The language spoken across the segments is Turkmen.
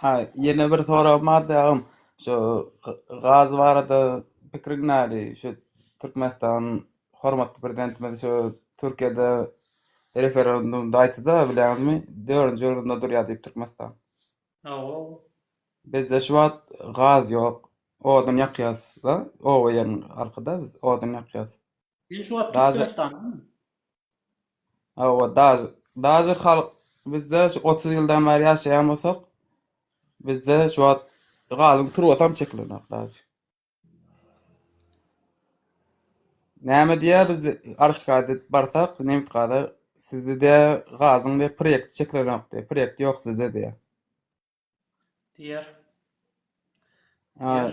Ha, ýene bir soragym bardy agam. Şu gaz barada pikiriň näli? Şu Türkmenistan hormatly prezidentimiz şu Türkiýede referendumda aýtdy-da, bilýäňizmi? Dördünji orunda durýar diýip Türkmenistan. Hawa. Bizde şu wagt gaz ýok. Odun ýakýas-da, oba ýeriň halky-da biz, odun ýakýas. Sen şu wagt Türkmenistandaňmy? Hawa, daş, daş halk bizde şu 30 ýyldan bäri ýaşaýan bolsak, bizde şu wagt galyň turbatam çekilenok daş. Näme diýä biz Arşkada barsak, nebit gaza sizde de gazyň de proýekt çekilenok diýä, proýekt ýok sizde diýä. Diýer. Diýer.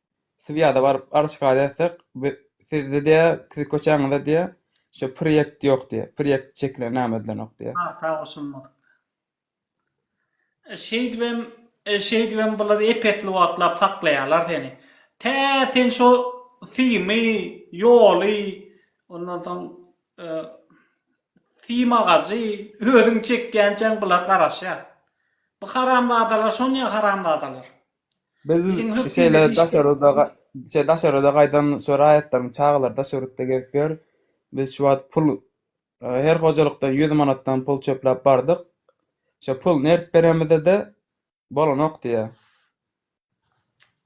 Swiýada baryp arz şikaýat etsek, sizde diýe, siziň köçäňizde diýe, şu proýekt ýok diýe, proýekt çekilen näme edilenok diýe. Pagta goşulmadyk. Şeýdibem, şeýdibem bular ep-esli wagtlap saklaýarlar seni. Tä sen şu symy, ýoly, ondan soň sym agajy özüň çekýänçäň bular garaşýar. Bu haramzadalar şonýa haramzadalar. Biz Iliň hökmünde şeýle iş daş berip ýörüs-de, ga- durýar. şeýle daş ýörüs-de gaýtam şu raýatlaryň çagalary daş ýörüsde gezip ýör. Biz şu wagt pul e, her hojalykdan ýüz manatdan pul çöpläp bardyk. Şo pul nerip beremizde-de bolanok diýýär.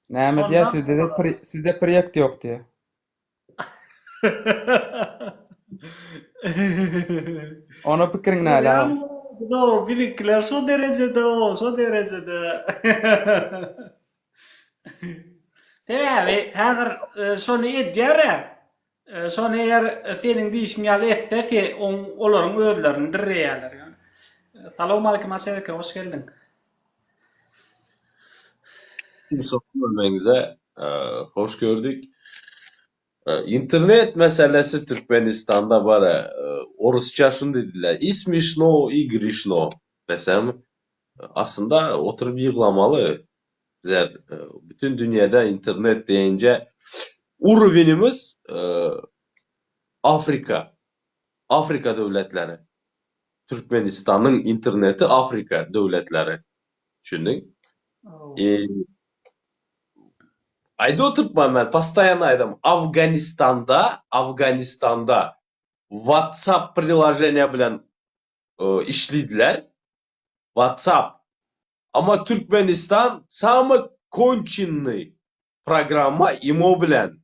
Näme diýýär, Şonda- sizde-de pri- sizde priýekt ýok diýýär. Ona pikiriň näle agam? Görýäňizmi, biziňkiler şo derejede, şo derejede. Sebäbi häzir şony edýär-ä. Şony eger seniň diýşiň ýaly etse, olaryň özlerini dirreýärler ýöne. Salowmalikim Aşyreke, hoş geldiň. Görmegiňize hoş gördük. Internet meselesi Türkmenistanda bar. Orusça şuny diýdiler, i smyşno, i gryşno. Desem, aslynda oturyp ýyglamaly. Bizler bütin dünýäde internet diýenje urowenymiz Afrika. Afrika döwletleri, Türkmenistanyň interneti Afrika döwletleri, düşündiň? I Aýdyp oturpman men postaýanna aýdam Afganistanda, Afganistanda WhatsApp priloženiýa bilen işlidiler, WhatsApp, amma Türkmenistan samy konçennyý programma imo bilen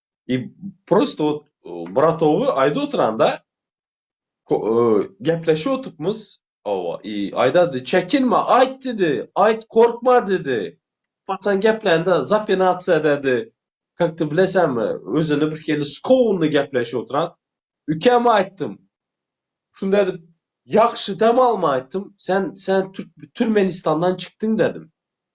i prosto wot bratogy aýda oturanda gepleşip otupmyz owa i aýdady çekinme aýt didi aýt korkma didi paçan geplände zapinatsiýa dädi kak ty bilesämi özüni bir hili skowunly gepleşip oturan ükäm aýtdym şunda edip ýagşy dem alma aýtdym sen sen türkmenistandan çykdyň dädim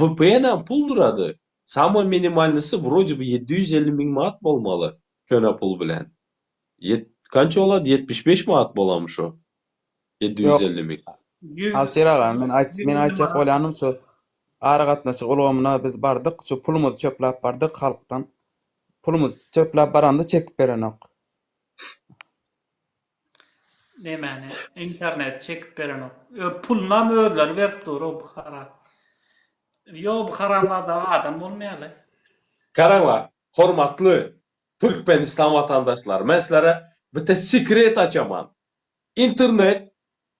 Vpnam pul durady. Samoý minimalnysy wrode bi ýedi ýüz elli müň manat bolmaly köne pul bilen. Ýet kança bolady ýetmiş beş manat bolam şu. Ýedi ýüz elli müň. Ýüz Alşir aga men aýt men aýtjak manat. bolýanym şu aragatnaşyk ulgamyna biz bardyk şu pulumyzy çöpläp bardyk halkdan pulumyzy çöpläp baranda çekip berenok. Nämäni internet çekip berenok. Öz pulunam özleri berip dur o Buhara. Ýok bu haramzada adam bolmaýaly. Garaňla hormatly Türkmenistan watandaşlary men sizlere bite sekret açaman internet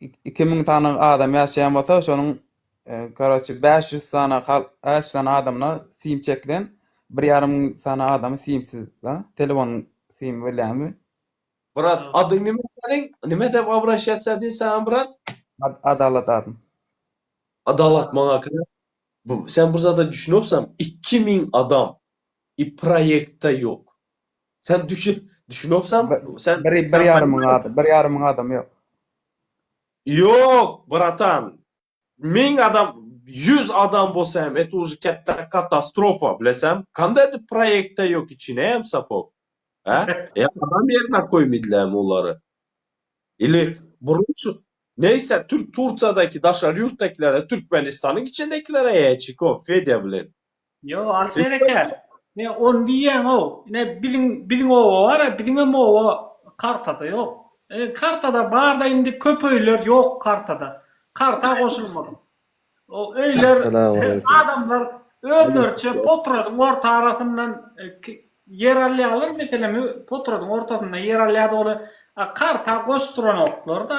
iki müň sany adam ýaşaýan bolsa şonuň e, karaçi beş ýüz sany äç sany adamyna sim çekilen bir ýarym müň sany adamy simsiz da telefon sim bilýäňmi brat adyň nime seniň nime dep abraşýaça diý saňa brat adalat adym adalat maňa kere bu sen bir zada düşünýopsan iki müň adam i proýektde ýok Sen düşüp, düşünopsan, sen bir bir ýarym myň adam, bir ýarym myň adam ýok. Ýok, bratan. Müň adam, ýüz adam bolsa hem et uži ketde katastrofa, bilesäm. Kanda edip proýekte ýok içine hem sapok. Hä? Ýa adam ýerine koýmidilem olary. Ili burun şu Neýse türk Tursiýadaky daşary ýurtdakilere türkmenistanyň içindekilere ýa çiko Fedýa bilen. Ýok, alys berekär. Ne on diýýäňow. Ine biziň biziň oba bar-a, biziňem oba kartada ýok. E, kartada bar-da indi köp öýler ýok kartada. Karta goşulmadyk. O öýler Esselamu aleýkum. adamlar özleriçe potradyň orta arasyndan e, ki- ýer alýarlar, meselem, potradyň ortasynda ýer alýar-da ol a, karta goşduranoklar-da.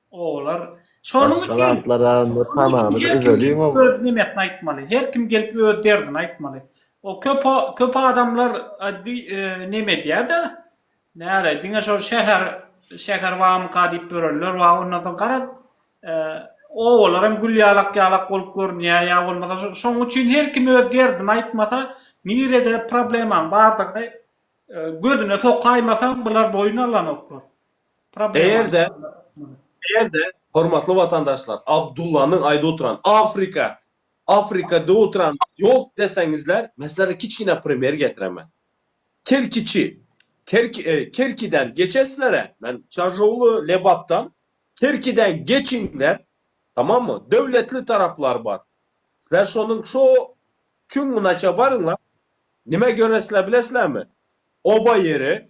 Olar şonuň üçin öz nemesini aýtmaly. Her kim gelip öz derdini aýtmaly. O köp köp adamlar neme edýä-de, näre, diňe şol şäher şäher bamyka diýip ýörenler bar, ondan soň garaz, obalar hem gülýalak-ýalak bolup görünýä ýa bolmasa şo şonuň üçin her kim öz derdini aýtmasa, nirede problemaň bardygyny gözüne sokaýmasaň bular boýun alanoklar. Eger-de, eger-de, hormatly watandaşlar, Abdullanyň aýdyp oturan Afrika, Afrika diýip oturan ýok deseňizler, men sizlere kiçgine primer getiremen. Kerkiçi, Kerki, Kerkiden geçesizler-ä, men Çarjowly, Lebapdan, Kerkiden geçiňler, tamammy, döwletli taraplar bar. Sizler şonuň şo çuňňunaça baryňlar, nime göresiler bilesilermi? Oba ýeri,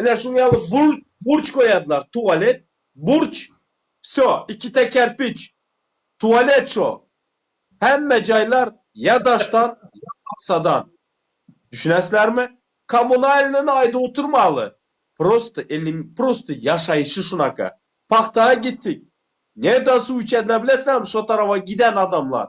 Ine şuň ýaly burç goýarlar, tualet, burç, wsýo, ikide kerpiç, tualet şo. Hemme jaýlar ýa daşdan, ýa paksadan. Düşünäsizlermi? Kommunalnyny aýdyp oturmaly. Prosta elim, prosta ýaşaýşy şunaka. Pagtaga gitdik. Nerden suw içediler bilesizlermi şo tarawa giden adamlar?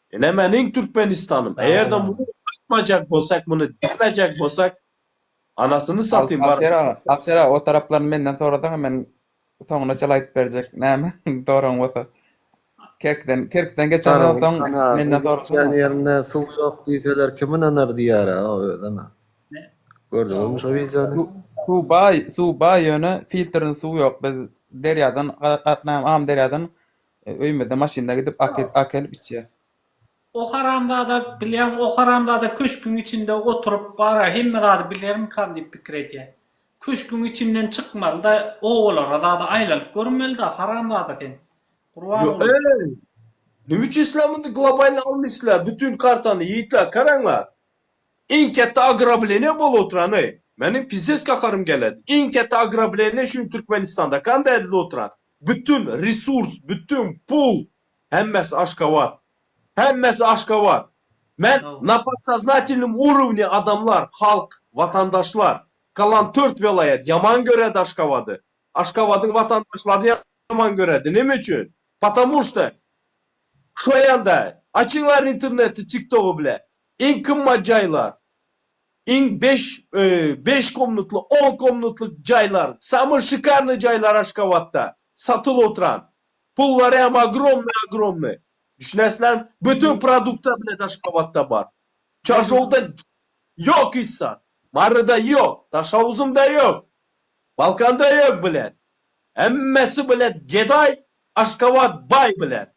Ine meniň Türkmenistanym. Eger-de muny aýtmajak bolsak, muny diýmejek bolsak, anasyny satyn bar. Alşer aga, Alşer aga o taraplaryny menden sorasaňa men soňuna çala aýdyp berjek näme soragyň bolsa. Kerkden, kerkden geçen bolsaň menden sorasaňa. Gitýän ýerinde suw ýok diýseler kim ynanar diýýärä o özi ana. Gördüňizmi şo wideony? Suw baý, suw baý ýöne filtrli suw ýok. Biz derýadan, Amyderýadan Öýümizde maşynda gidip akelip içýäs. O haramzada bilýäň o haramzada köşküň içinde oturyp bara hemme zady bilermikam diýip pikir edýä. Köşküň içinden çykmalyda obalara zada aýlanyp görmelida haramzada sen. Gurbanguly. Öý! Nime üçin sizler muny globalny almyşsizler bütin kartany ýigitler karanlar. Iň ketde agrableniýa bolup oturan öý. Meniň pises gaharym geledi. Iň ketde agrableniýa şu gün Türkmenistanda kanda edilip oturan. Bütin resurs, bütin pul, hemmesi Aşgabat. Hemmesi Aşgabat. Men na podsoznatelnom urowni adamlar, halk, watandaşlar, galan tört welaýat ýaman göredi Aşgabady. Aşgabadyň watandaşlaryny ýaman göredi. Nime üçin? Patamu şda şoýanda açyňlar interneti tiktogy bile iň kymmat jaýlar. Iň beş beş komnatly, on komnatly jaýlar, samoý şikarnyý jaýlar Aşgabatda satylyp oturan. Pullary hem ogromnyý ogromnyý. Düşünesizlermi? Bütin produkta bilet Aşgabatda bar. Çarşowda ýok hiç zat. Maryda ýok, Daşoguzymda ýok, Balkanda ýok bilet. Hemmesi bilet gedaý, Aşgabat baý bilet.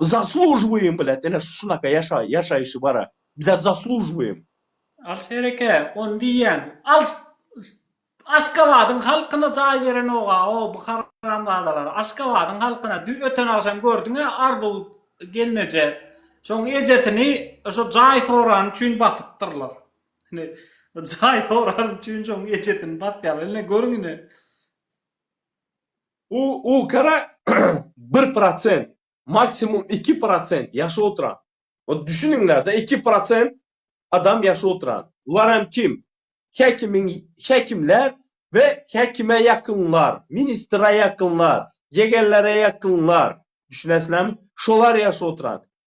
Zaslujybuýym bilet ine şunaka ýaşa ýaşaýşy bara bize zaslujybuýym. Alyş hereke on diýýän alyş aşgabadyň halkyna jaý berenoga o bu haramzadalar aşgabadyň halkyna dü öten agşam gördüňä arzuw gelneje şoň ejesini şo jaý sorany üçin basypdyrlar ine jaý sorany üçin şoň ejesini basýarlar ine görüň ine. Bu okara bir prosent, maksimum iki prosent ýaşap oturan. Ol düşüniňlerde iki prosent adam ýaşap oturan. Bular hem kim? Häkimiň häkimler we häkime ýakynlar, ministre ýakynlar, ýegenlere ýakynlar. Düşünesizlermi? Şolar ýaşap oturan.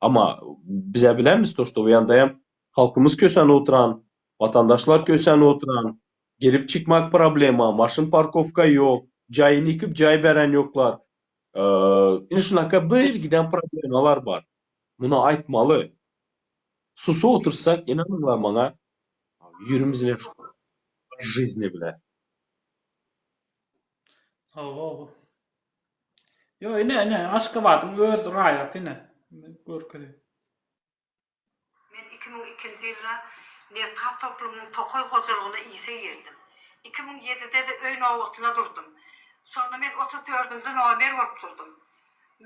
Amma bizä bileris to, ştow ýandaýam halkymyz köçän oturan, watandaşlar köçän oturan, girip çykmak problema, maşyn parkowka ýok, jaýyny ýykyp jaý bären ýoklar. Indi şunaka bir giden problemalar bar. Muny aýtmaly. Susup otursak ynanyňlar maňa ýüriňiz leş bolar. Žizne bile. Sag bol. Ýok ine ine Aşgabadyň öz raýaty ine görkezeýin. Men iki müň ikinji ýylda Nebtgaz toplumynyň tokaý hojalygyna işe girdim. Iki müň ýedide-de öý nobatyna durdum. Şonda men otuz dördünji nomer bolup durdum.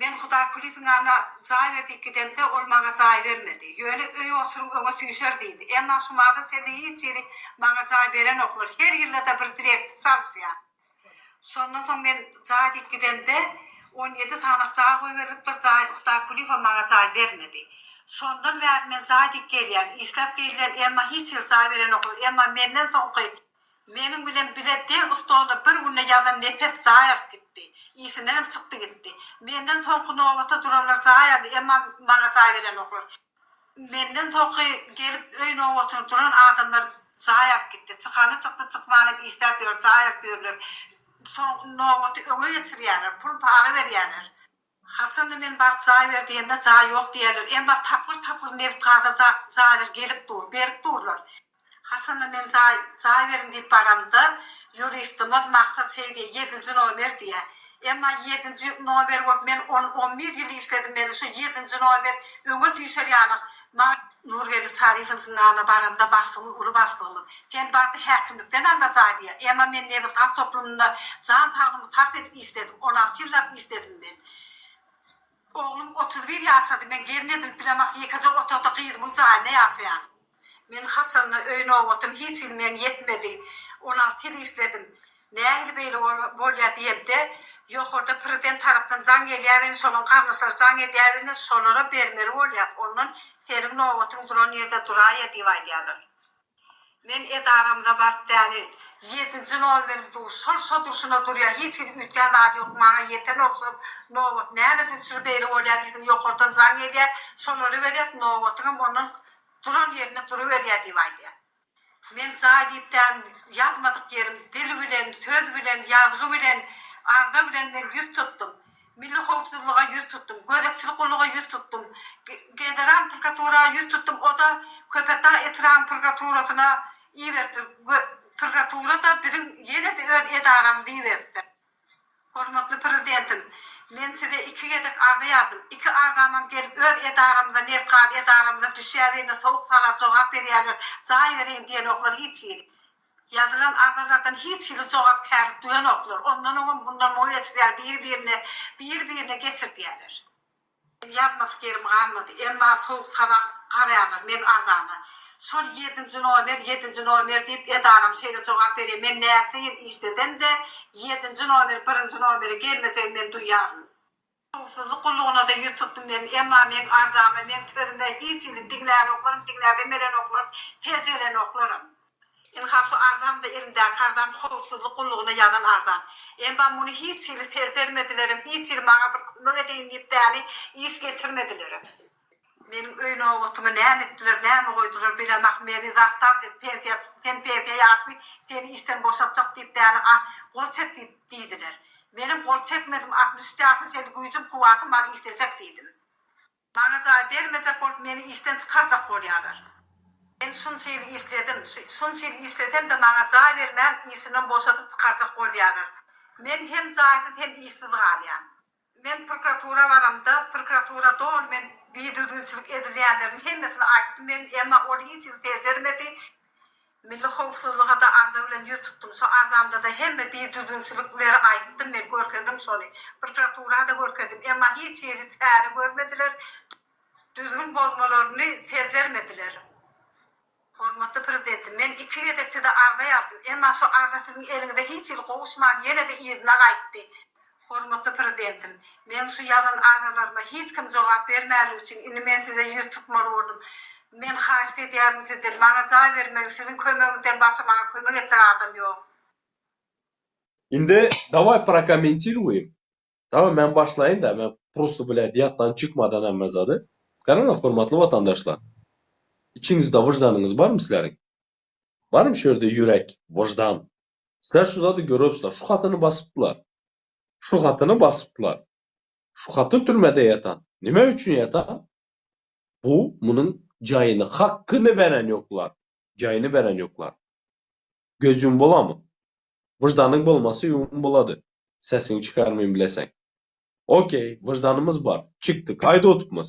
Men Hudaýkulyýewiň ýanyna jaý berdik gidemde, ol maňa jaý bermedi. Ýöne öý oturyň öňe süýşer diýdi. Emma şumada çenli hiç hili maňa jaý berenoklar. Her ýylda-da bir direktor çalyşýar. Şondan soň men jaý diýip gidemde, on ýedi sanak jaý goýberilipdir, jaý Huddaý Kulyýewa maňa jaý bermedi. Şondan bäri men jaý diýip gelýän. Işläp diýilýän, emma hiç hili jaý berenoklar. Emma menden soňky, meniň bilen bile deň ustoda bir günde ýazan nepes jaý alyp gitdi. Işindenem çykdy gitdi. Menden soňky nobata duranlar jaý aldy, emma maňa jaý berenoklar. Menden soňky gelip öý nobatyny duran adamlar jaý alyp gitdi. Çykany çykdy, çykmany hem işläp ýör, jaý alyp ýörler. Soňky nobaty öňe geçirýärler, pul-para berýärler. Haçanda men baryp jaý ber diýende jaý ýok diýýärler. Emma tapgyr-tapgyr nebit-gaza jaýlar gelip dur, berip durlar. Haçanda men jaý, jaý beriň diýip baramda, ýuristimiz Maksat şeý diýýär, ýedinji nomer diýýär. Emma ýedinji nomer bolup men on, on bir ýyl işledim, meni şu ýedinji nomer öňe süýşer ýalyk maňa. Nurgeldi Çaryýewiň zyndanyna baramda başlygymyz, uly başlygymyz, Sen bardy häkimlikden al-da jaý diýýär. Emma men nebit gaz toplumynda jan saglygymy sarp edip işledim, on alty ýyllap işledim men. Oglum otuz bir ýaşady, men gelin edinip bilemok, ýekeje otagda gyzymyň jaýynda ýaşaýan. Men haçanda öý nobatym hiç hili men ýetmedi. Olar tiz işledim. Nähili beýle bolýa diýemde, ýokarda prezident tarapdan jaň gelýäbeni şolaň garyndaşlary jaň edýäbeni şolara bermeli bolýas ondan seniň nobatyň duran ýerde duraýa diýip aýdýalar. Men edaramyza baryp däli ýedinji nomer dur şol şo durşuna durýa hiç hili üýtgän zady ýok maňa ýeten ogşap nobat näme durçur beýle bolýa diýdim ýokardan jaň gelýä şolara berýas nobatyňam ondan Duran ýerinde duruberýär diýip aýdýar. Men jaý diýip däl, ýazmadyk ýerim, dil bilen, söz bilen, ýazgy bilen, arza bilen men ýüz tutdum. Milli howpsuzlyga ýüz tutdum, gözegçilik gulluga ýüz tutdum, Federal prokuratura ýüz tutdum, o-da Köpetdag etrabynyň prokuraturasyna iberipdir we prokuratura-da biziň ýene-de öz edaramyza iberipdir. Hormatly Prezidentim, men Size iki gezek arza ýazdym. Iki arzamam gelip öz edaramyza, nebkar edaramyza düşýär indi sowuk sarap jogap berýärler, jaý beriň diýenoklar hiç hili. Ýazylan arzalardan hiç hili jogapkärlik duýanoklar. Ondan oňam mundan muňa geçirýär biri-birine, biri-birine geçirdýärler. Meniň ýazmasy ýerim galmady. Emma sowuk sazan garýarlar meň arzama. Şol ýedinji nomer, ýedinji nomer diýip edaram şeýle jogap berýär. Men näçe ýyl işlesem-de, ýedinji nomer birinji nomere gelmejegini men duýýaryn. Howpsuzlyk gullugyna-da ýüz tutdum men. Emma meň arzama, meň sözüme hiç hili diňlänoklarm, diňläpem berenoklarm, seljerenoklarm. Ynha şu arzam-da elimdäki arzam howpsuzlyk gullugyna ýazan arzam. Emma muny hiç hili ser bermedilerem, hiç hili maňa bir kömek edeýin diýip täli iş geçirmedilerem. Meniň öý nobatymy näme etdiler, näme goýdular bilemok, meni zastar diýip, pensiýa, sen pensiýa ýaşly, seni işden boşatjak diýip täli ah, gol çek diýip, diýdiler. Menem gol çekmedim, altmyş üç ýaşly çenli güýjüm, kuwwatym bar, işlejek diýdim. Maňa jaý bermejek bolup meni işden çykarjak bolýarlar. Men şunça ýyl işledim, şunça ýyl işlesem-de maňa jaý bermän işimden boşadyp çykarjak bolýarlar. Men hem jaýsyz hem işsiz galýan. Men prokuratura baramda prokuratura doly men bidüzgünçilik edilýänleriň hemmesini aýtdym men emma ol hiç ýyl seljermedi. Milli howpsuzlyga-da arza bilen ýüz tutdum. Şo arzamda-da hemme bir düzgünçilikleri aýtdym men, görkezdim şony. Prokuratura-da görkezdim. Emma hiç hili çäre görmediler, düzgün bozmalaryny seljermediler. Hormatly Prezidentim, men iki gezek Size arza ýazdym. Emma şo arza Siziň eliňize hiç hili gowuşman, ýene-de yzyna gaýtdy. Hormatly Prezidentim, meň şu ýazan arzalaryma hiç kim jogap bermänligi üçin indi men size ýüz tutmaly boldum. Men haýyşt edýärin sizden, maňa jaý bermegiň, siziň kömegiňizden başga maňa kömek etjek adam ýok. Indi daway prokomentiruyim. Daway men başlaýyn da, men prosto blýad ýatdan çykmadan hemme zady. Garaňa hormatly watandaşlar. Içiňizde wyždanyňyz barmy sizleriň? Barmy şu ýerde ýürek, wyždan? Sizler şu zady görüpsiler, şu hatyny basypdylar. Şu hatyny basypdylar. Şu hatyn türmede ýatan. Nime üçin ýatan? Bu, munuň jaýyny, hakkyny beren ýoklar. Jaýyny beren ýoklar. Göz ýum bolamy? Wyždanyň bolmasa ýum bolady. Sesiňi çykarmyn bileseň. Okey, wyždanymyz bar. Çykdyk. Aýda otupmyz.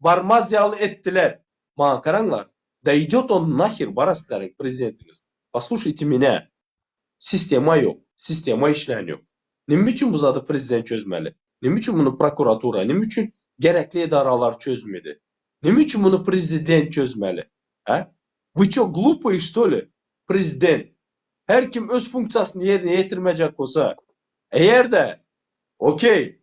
barmaz ýaly etdiler. Maňa garaňlar, daýdýot on naher baraslaryn prezidentiňiz, poslušaýte menä, sistema ýok, sistema işlän ýok. Nime üçin bu zady prezident çözmeli? Nime üçin muny prokuratura, nime üçin gerekli edaralar çözmedi? Nime üçin muny prezident çözmeli? Hä? Вы ço glupoýe što li? Prezident, her kim öz funksiýasyny ýerine ýetirmejek bolsa, eger-de, okey,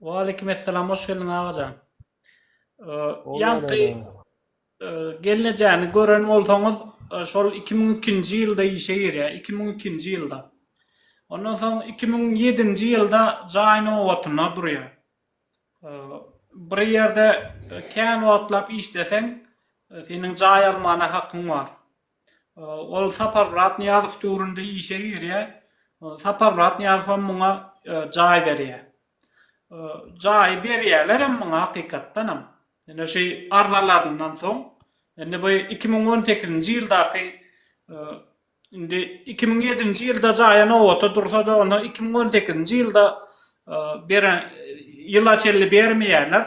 Waleýkim essalam hoş geldiň agajan. Ýaňky gelnejäni gören bolsaňyz şol 2002-nji ýylda işe girýär, 2002-nji ýylda. Ondan soň 2007-nji ýylda jaý nobatyna durýar. Bir ýerde kän wagtlap işleseň, seniň jaý almana hakyň bar. Ol Saparmyrat Nyýazow döwründe işe girýär. Saparmyrat Nyýazowam muňa jaý berýär. Jaýy berýärlerem muňa hakykatdanam. Ine şu arzalaryndan soň, indi bu iki müň on sekizinji ýyldaky, indi iki müň ýedinji ýylda jaýa nobata dursa-da, onda iki müň on sekizinji ýylda beren, ýyla çenli bermeýärler.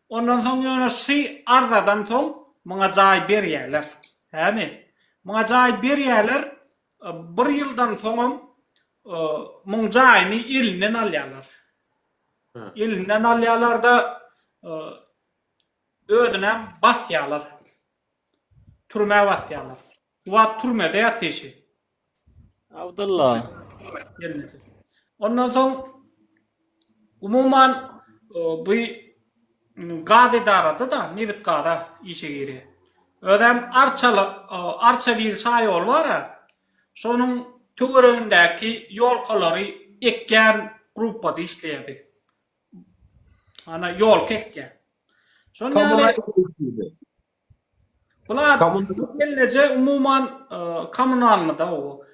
Ondan soň ýöne şy arzadan soň muňa jaý berýärler. Hämi? Muňa jaý berýärler, bir ýyldan soňam muň jaýyny elinden alýarlar. Elinden alýarlar-da, özünem basýarlar. Türmä basýarlar. Bu wagt türmede ýatyşy. Abdylla. Gelneje. Ondan soň umuman bu gaz edarada-da nebit-gaza işe girýär. Özem arçaly arça bir şaýol bar-a, şonuň töweregindäki ýolkalary ekýän gruppada işleýär biz. Ana ýolka ekýär. Şonda ýaly Bular gelneje umuman kommunalnyda bu.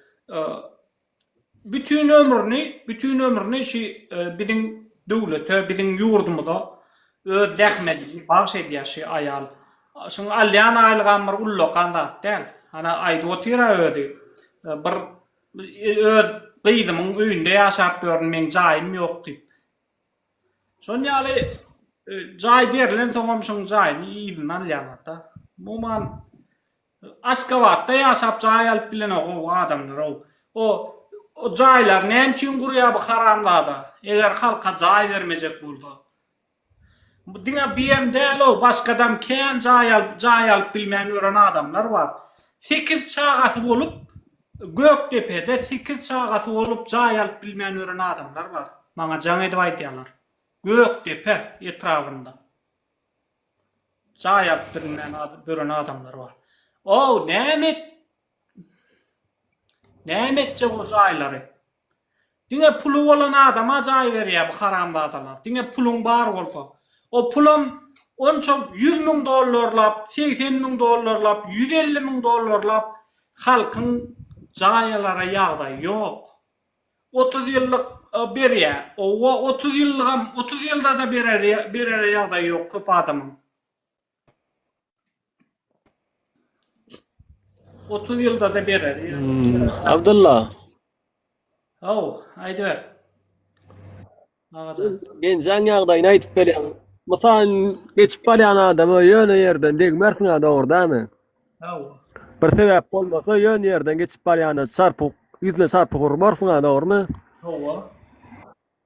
Bütin ömrüni, bütin ömrüni şu biziň döwlete, biziň ýurdumyza öz zähmedini bagyş edýär şu aýal. Şuň alýan aýlygam bir ullakan zat däl. Hany aýdyp otyr-a özi. Bir öz gyzymyň öýünde ýaşap ýörün, meň jaýym ýok diýip. Şonuň ýaly jaý berlensoňam şoň jaýyny yzyna alýarlar-da. Umuman Aşgabatda ýaşap jaý alyp bilenok o adamlar-ow. O o jaýlary näme üçin gurýar bu haramzada? Eger halka jaý bermejek bolsa. Bu diňe BM däl-ow, başgadam kän jaý alyp, jaý alyp bilmän ýören adamlar bar. Sekiz çagasy bolup, Gökdepede sekiz çagasy bolup jaý alyp bilmän ören adamlar bar. Maňa jaň edip aýdýarlar. Gökdepe etrabynda jaý alyp bilmän ören adamlar bar. Ow näme et näme etjek o jaýlary. Diňe puly bolan adama jaý berýär bu haramzadalar. Diňe puluň bar bolsa. O pulam onça ýüz müň dollarlap, segsen müň dollarlap, ýüz elli müň dollarlap halkyň jaý alara ýagdaýy ýok. Otuz ýyllyk berýär. Owa otuz ýyllygam, otuz ýylda-da berere ýagdaýy ýok köp adamyň. 30 ýylda da berer. Abdylla. Aw, aýdyber. Agajan. Genjaň ýagdaýyny aýdyp berýän. Mysal geçip barýan adama ýöne ýerden degmersiň a dogry dämi? Aw. Bir sebäp bolmasa ýöne ýerden geçip barýanda çarpyk ýüzüne çarpyk urmarsyň a dogrymy? Hawa.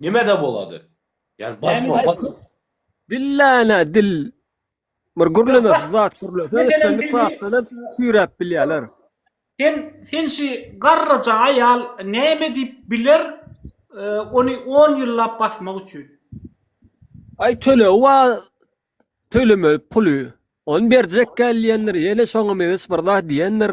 Nimede bolady? Yani bas bol, bas bol. Dillana dil. Bir gürleme zat gürleme. Sen bir saatdan süýräp bilýärler. Sen sen şu garraja aýal näme diýip biler? E, ony 10 ýyllap basmak üçin. Ay töle wa töleme puly. On berjek gel diýendir, ýene şoňa meňiş bir zat diýendir.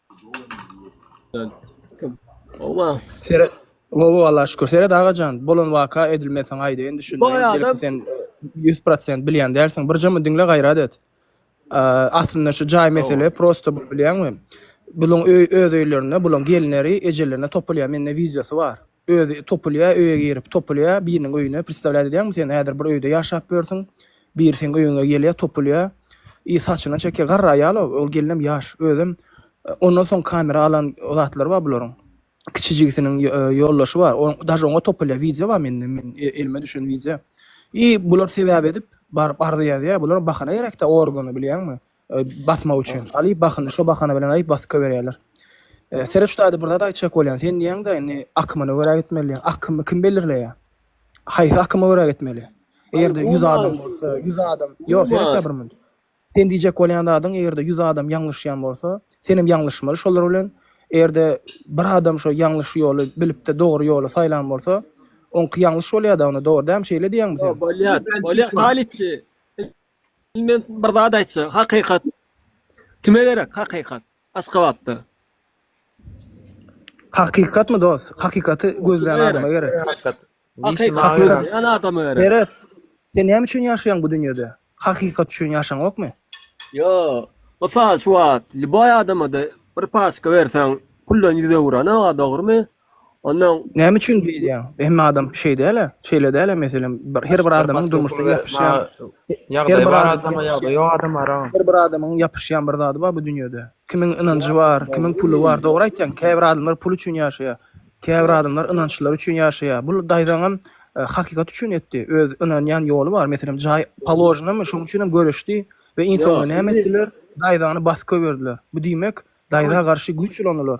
Owa. Seret. Gowy Allaha şükür. Seret agajan, bolan waka edilmeseň aýdaýyn düşünmeýin. Belki sen 100% bilýän dälsiň. Birjemi diňle gaýrat et. Aslynda şu jaý mesele prosta bilýäňmi? Bulaň öý öz öýlerinde, bulaň gelinleri ejelerine topulýar. Mende wideosy bar. Özi topulýa öýe girip topulýa biriniň öýüne pristawlýat edýäňmi sen häzir bir öýde ýaşap ýörsüň biri seň öýüňe gelýä topulýa i saçyna çekýä garry aýala ol gelinem ýaş özem ondan soň kamera alan zatlary bar bularyň kiçi jigisiniň ýoldaşy bar ol daže oňa topulýa wideo bar mende men elime düşen wideo i bular sebäp edip baryp arza ýazýa bulara bahana gerekdä organa bilýäňmi Basmak üçin. Alyp basyny şo bahana bilen aýyp basyka berýärler. Seret şu taýda bir zat aýtjak bolýan. Sen diýýäňdä indi akymyna görä gitmeli diýýän. Akymy kim belirleýä? Haýsy akyma görä gitmeli? Egerde ýüz adam bolsa, ýüz adam, ýok seretde bir munt. Sen diýjek bolýan zadyň egerde ýüz adam ýalňyşýan bolsa, senem ýalňyşmaly şolar bilen. Egerde bir adam şo ýalňyş ýoly bilipde dogry ýoly saýlan bolsa, oňky ýalňyş bolýada onda dogry dämi şeýle diýýäňmi sen? Bolýa, bolýa talypçy. Indi men bir zat aýtjak. Hakykat. Kime gerek hakykat? Aşgabatda. Hakykatmy dos? Hakykaty gözleýän Nerede? adama gerek. Hakikat. Nişi Hakykat. mavi. Hakykat. Ýan adama gerek. Seret. Sen näme üçin ýaşaýaň bu dünýede? Hakykat üçin ýaşaňokmy? Yo. Mysal şu wagt lýuboý adama-da bir paçka berseň, puldan ýüz öwürenok-a, dogrumy? Ondan Näme üçin diýýäň? Hemme adam şeý däl-ä, şeýle däl-ä meselem, bir her bir adamyň durmuşda ýapyşýan, ýagdaýy bar adama, ýagdaýy ýok adam bar agam. Her bir adamyň ýapyşýan bir zady bar bu dünýede. Kimiň ynanjy bar, kimiň puly bar. Dogry aýtýaň, käbir adamlar pul üçin ýaşaýar. Käbir adamlar ynançlary üçin ýaşaýar. Bul daýzaňam hakykat üçin etdi. Öz ynanýan ýoly bar. Meselem, jaý položnamy, şonuň üçin hem göreşdi we iň soňunda näme etdiler? Daýzany basyp goýberdiler. Bu diýmek, daýza garşy güýç ulanylar.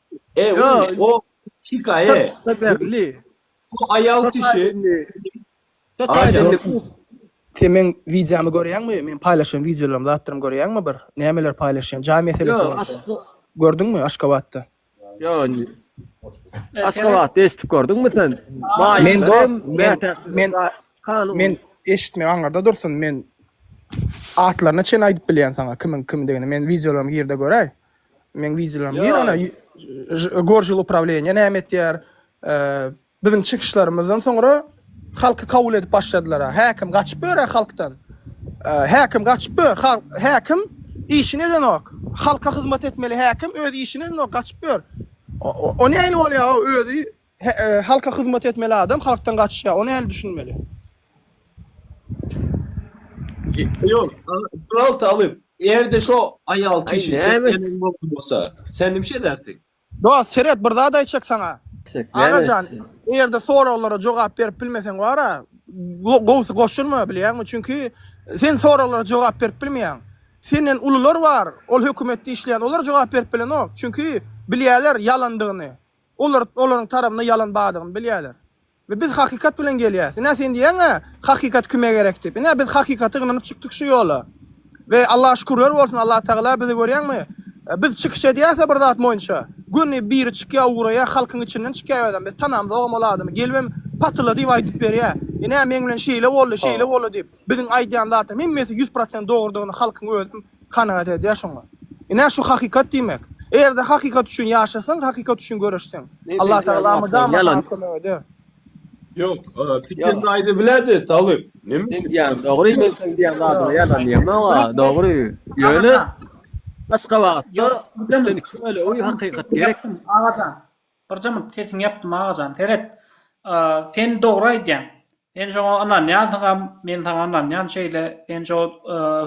E, Ýo, indi o hikaýa. çyrşykda berli. Şu aýal Köp kişi. aýdymly. Köp Aýjan. aýdymly Dostum, bu. sen meň wideomy görýäňmi? Meň paýlaşýan wideolarymy, zatlarymy görýäňmi bir? Nämeler paýlaşýan? Jaý meselesi Ýo, boýunça. aşga. Gördüňmi Aşgabatda? Ýo, indi. Aşgabatda eşidip gördüňmi sen? Maýyp Men dos, hem men, mätäçsiz men, ra- kanun. men eşitmek aňyrda dursun, men atlaryna çenli aýdyp bilýän saňa kimiň kimdigini. Men wideolarymy gir-de göräý. Men wideolarymy bir ana gorjul upravleniýe näme etýär? Biziň çykyşlarymyzdan soňra halky kabul edip başladylar. Häkim gaçyp ýör halkdan. Häkim gaçyp ýör. Häkim işini edenok. Halka hyzmat etmeli häkim öz işini edenok, gaçyp ýör. O näme bolýar? Özi Halka hyzmat etmeli adam halkdan gaçyşýar. Ony heli düşünmeli. Ýok, Tural talyp, eger-de şo aýal kişi seniň ýeriňde bolan bolsa, sen nimişe ederdiň? Dost, seret, bir zat aýtjak saňa. Aga jan, eger-de soraglara jogap berip bilmeseň bar-a, gowusy goşulma, bilýäňmi? Çünki sen soraglara jogap berip bilmeýäň. Senden ulular bar, ol hökümetde işleýän, olar jogap berip bilenok. Çünki bilýärler ýalandygyny. Olar olaryň tarabynda ýalan bardygyny bilýärler. We biz hakykat bilen gelýäs. Ine sen diýýäň-ä, hakykat kime gerek diýip. Ine biz hakykata ynanyp çykdyk şu ýola. We Allaha şükürler bolsun, Allatagala bizi görýäňmi, biz çykyş edýäs-ä bir zat boýunça, göni biri çykýar ugraýar, halkyň içinden çykýar ýöne biz tanamzogam ol adamy, gelibem patyla diýip aýdyp berýär. Ine meň bilen şeýle boldy, şeýle boldy diýip. Biziň aýdýan zatlarymyz hemmesi ýüz prosent dogrudygyny halkyň özem kanagat edýär şoňa. Ine, şu hakykat diýmek. Eger-de hakykat üçin ýaşasaň, hakykat üçin göreşseň, Allatagala mydama saňa kömek eder. Ýok, Piken de aýda bilerdi, talyp. Näme üçin? Sen diýýän dogry, men seň diýýän zadyňa ýalan diýemok-a, dogry. Ýöne, başga wagtda, üstünlikli bolýa, hakykat gerek. Agajan, Bir jyňyrt sesiňi ýapdym agajan seret sen dogry aýdýaň sen şoňa ynanýansyňam men saňa ynanýan şeýle sen şo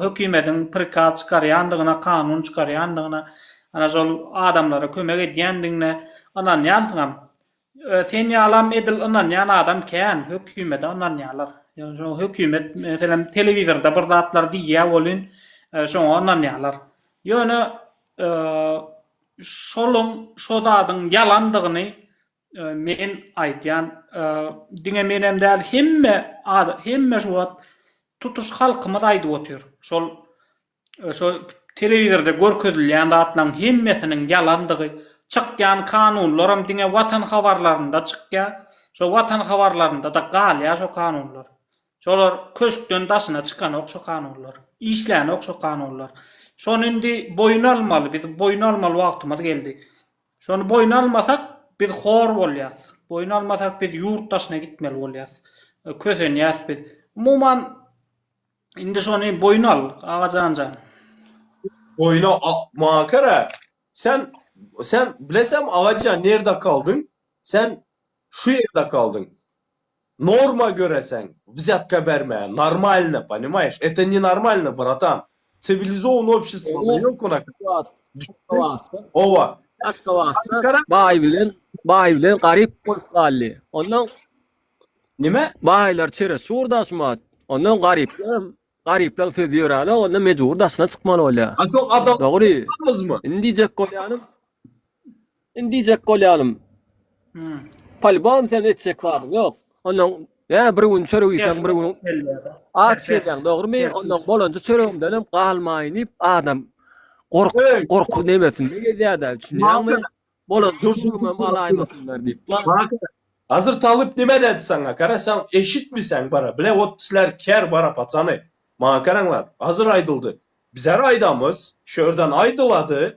hökimediň prikaz çykarýandygyna kanun çykarýandygyna ana şol adamlara kömek edýändigiňe ynanýansyňam sen ýalam edil ynanýan adam kän hökimede ynanýalar ýöne şo hökimet meselem telewizorda bir zatlar diýýä welin şoňa ynanýalar ýöne Şoluň şo zadyň ýalandygyny men aýdýan. Diňe menem däl hemme hemme şu wagt tutuş halkymyz aýdyp otyr. Şol şo telewizorda görkezilýän zatlaň hemmesiniň ýalandygy, çykýan kanunlaram diňe watan habarlarynda çykýa, şo watan habarlarynda-da galýa şo kanunlar. Şolar köşkden daşyna çykanok şo kanunlar. Işlänok şo kanunlar. Şony indi boýun almaly, biz boýun almaly wagtymyz geldi. Şony boýun almasak biz hor bolýas. Boýun almasak biz ýurt daşyna gitmeli bolýas. Kösenýäs biz. Umuman indi şony boýun al Agajan jan. Boýuna maňa kera. Sen sen bilesem Agajan nerde kaldyň? Sen Şu ýerde kaldyň. Norma göreseň wzyatka berme normalno ponimaýyş eto ne normalno bratan siwilizowany obşestwada ýok onaka düşün owa aşgabatda baý bilen baý bilen garyp bolup galdy ondan nime baýlar çerez çur daşmat ondan garyplar garyplaň sözi ýöränok onda mejbur daşyna çykmaly bolýa dogry indi diýjek bolýanym Indi diýjek bolýanym. Polybom sen etjek zadyň ýok. Ondan ýa bir gün çörek iýseň, bir gün aç gelýäň, dogrumy? Ondan bolanja çöregimden hem galmaýyn diýip adam gork gorky nemesinde gezýär-de, düşünýäňmi? Bolan dürjügimi hem alaýmasynlar diýip. Hazyr talyp nime dädi saňa? Gara sen eşitmiseň bara, bile ot pisler ker bara paçany. Maňa garaňlar, hazyr aýdyldy. Bizar aýdamyz, şu ýerden aýdylady.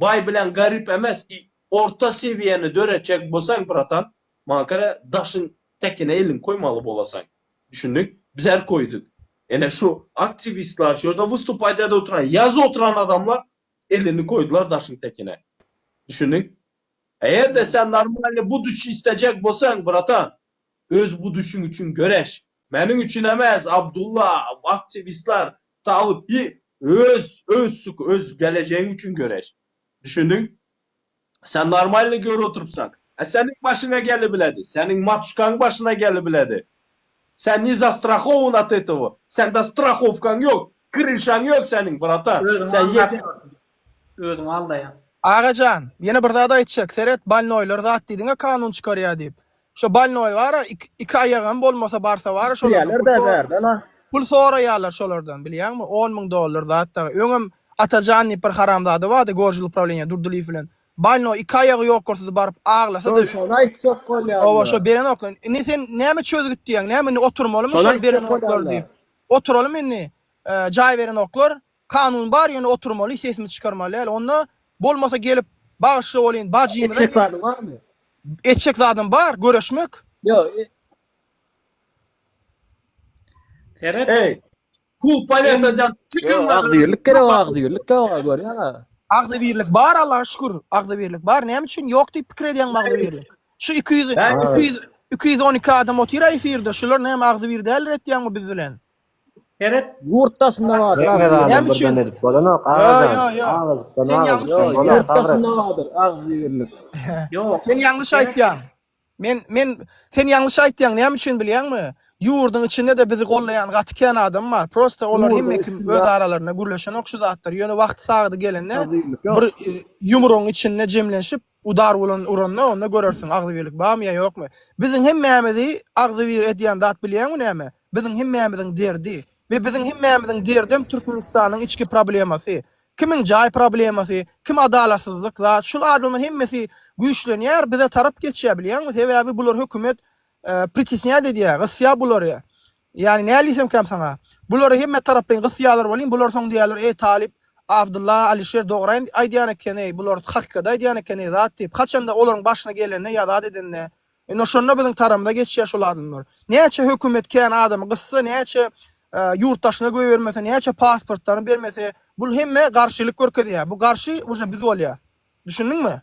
Baý bilen garyp emes i orta sewiýeni döretjek bolsaň bratan maňa görä daşyň täkine eliňi koýmaly bolasaň. Düşündik? Bizar koýduk. Ene şu aktiwistlar şu ýerde wystupaýt edip oturan ýaz oturan adamlar elini koýdular daşyň täkine. Düşündik? Eger-de sen normalny buduçi islejek bolsaň bratan Öz bu düşüň üçin göreş. Meniň üçin emes Abdulla aktiwistler talyp bir öz öz öz gelejegiň üçin göreş. Düşündiň? Sen normalny görüp oturypsaň. A seniň başyňa gelibiledi. Seniň matuşkaň başyna gelibiledi. Sen ne zastrahowan at etowo. Sende strahowkaň ýok. Kryşaň ýok seniň bratan. Sen ýeke. Özüňi aldaýaň. Agajan, ýene bir zat aýtjak, seret, balnoýlar zat diýdiňä kanun çykarýa diýip. Şo balnoý bara, iki aýagam bolmasa barsa bara şolardan pul soraýarlar. Pul soraýarlar şolardan, bilýäňmi? On müň dollar zat dagy. Öňem Atajan diýip bir haramzada bardy, gorjul uprawilenýa Durdylyýew bilen. Balnoý iki aýagy ýokarsyz baryp aglasa-da. Şony, şony aýtjak bolýarlar. Hawa, şo berenoklar. Indi sen näme çözgüt diýýäň? Näme indi oturmalymy şol berenoklar diýip? Oturalymy indi? Jaý berenoklar, Kanun bar ýöne oturmaly sesimiz çykarmaly däl onda bolmasa gelip bagyşla bolyn bajymyza. Etjek zady barmy? Etjek zadym bar göreşmek. Ýok. Seret. Eý. Kul poletajan çykyň da. Agzybirlik gerek agzybirlik ýok görýäňa. Agzybirlik bar Allaha şükür agzybirlik bar näme üçin ýok diýip pikir edýäňmi agzybirlik. Şu iki ýüz iki ýüz iki ýüz on iki adam otyr efirde şular näme agzybir däldir etýäňmi biz bilen. Seret. Ýurt daşynda bar. Ýa ýa ýa. Näme üçin? Ýurt daşynda bardyr agzybirlik. Ýok. Sen ýalňyş aýtýaň. Men men sen ýalňyş aýtýaň. Näme üçin bilýäňmi? Ýurdyň içinde-de bizi gollaýan gaty kän adam bar. Prosta olar hemme kim öz aralarynda gürleşenok şu zatlar. Ýöne wagty sagydy gelende bir ýumrugyň içinde jemlenşip Udar bolan uranda onda görersiň agzybirlik barmy ýa ýokmy. Biziň hemmämizi agzybir edýän zat bilýäňmi näme? Biziň hemmämiziň derdi. We biziň hemmämiziň derdem Türkmenistanyň içki problemasy. Kimiň jaý problemasy, kim adalatsyzlyk zat, şul adamlar hemmesi güýçlenýär bize tarap geçýär bilýäňmi sebäbi bular hökümet Pritisnýat edýär, gysýar bulary. Ýagny näl diýsemkäm saňa, bulary hemme taraplaýyn gysýarlar welin, bular soň diýerler, Eý, talyp Abdylla, Alyşir dograý aýdýan eken-eý, bular hakykat aýdýan eken-eý zat diýip, haçanda olaryň başyna gelende ýa zat edende, ine, şonda biziň taramyza geçýär şol adamlar. Näçe hökümet kän adamy gyssa, näçe ýurt daşyna goýbermese, näçe pasportlaryny bermese, bul hemme garşylyk görkezýär. Bu garşy uje biz bolýas. Düşündiňmi?